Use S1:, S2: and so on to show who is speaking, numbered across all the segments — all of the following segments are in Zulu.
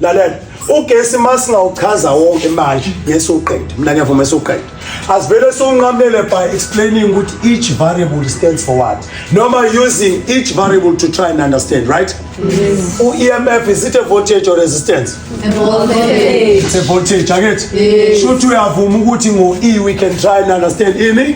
S1: lalela ugesi uma singawuchaza wonke manje ngesuqede mina ngiyavuma esuqede asivele siwunqamele by explaining ukuthi each variable stands for what noma using each variable to try and understand right yes. u-emf is it a voltage or resistance a voltage.
S2: it's a voltage
S1: akethi yes. shuthi uyavuma ukuthi ngo-e we can try and understand ini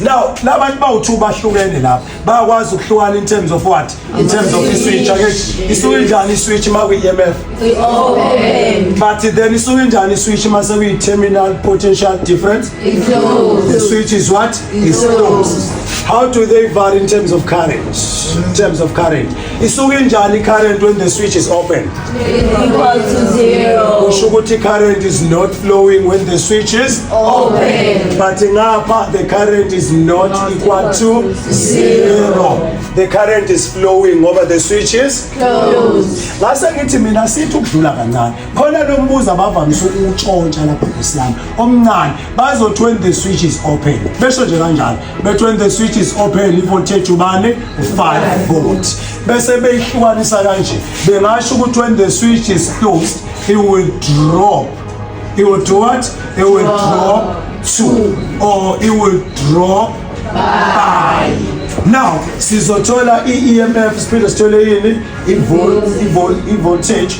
S2: Now
S1: labantu bawu2 bahlukene lapha bayakwazi ukuhlukana in terms of what in terms of iswitch akethi isuke njani iswitch ma kwi EMF
S2: open but then isuke
S1: njani iswitch ma sekuyi terminal potential difference
S2: the switch is what
S1: is closed how do they vary in terms of current in terms of current isuke injani current when the switch is open equal to
S2: zero kusho ukuthi current
S1: is not flowing when the switch is open
S2: but ngapha
S1: the current is not, not equal to zero the current is flowing ngoba the switch is closed
S2: ngase ngithi mina
S1: sithi ukudlula kancane khona lo mbuzo abavamise ukuwutshontsha lapha ngesiyami omncane bazothi when the switch is open besho nje kanjalo bethi when the switch is open ivoltage ubani u-5 volt bese beyihlukanisa kanje bengasho ukuthi when the switch is closed it will drop it will do what it will drop two or it will drop by now sizothola i-emf siphinde sithole yini i-voltage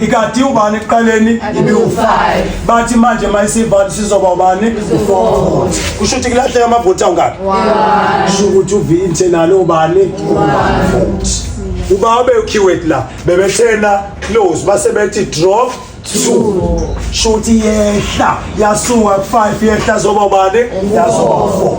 S1: ikati ubani ekuqaleni ibiwu-five bathi manje uma isivala sizoba ubani u-four kusho ukuthi kulahleka amavoti awungaki kusho ukuthi uvinte nalo ubani voti uba abekhiwet la bebethena close base bethi draw two shuthi yehla yasuka ku-five yehla zoba ubani yazoba u-four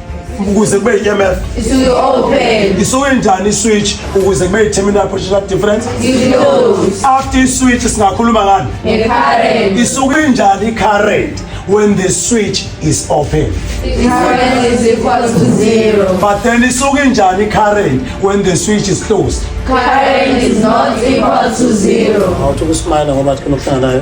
S1: ukuze kube yi-emf
S2: isuke njani
S1: iswitch ukuze kube yi-terminal potential difference
S2: after iswitch
S1: singakhuluma ngani
S2: isuke njani
S1: i-current when the switch is open
S2: but then isuke
S1: njani i-current when the switch is closed
S2: awuthi ukusimana ngoba
S1: kunokuhlanganayo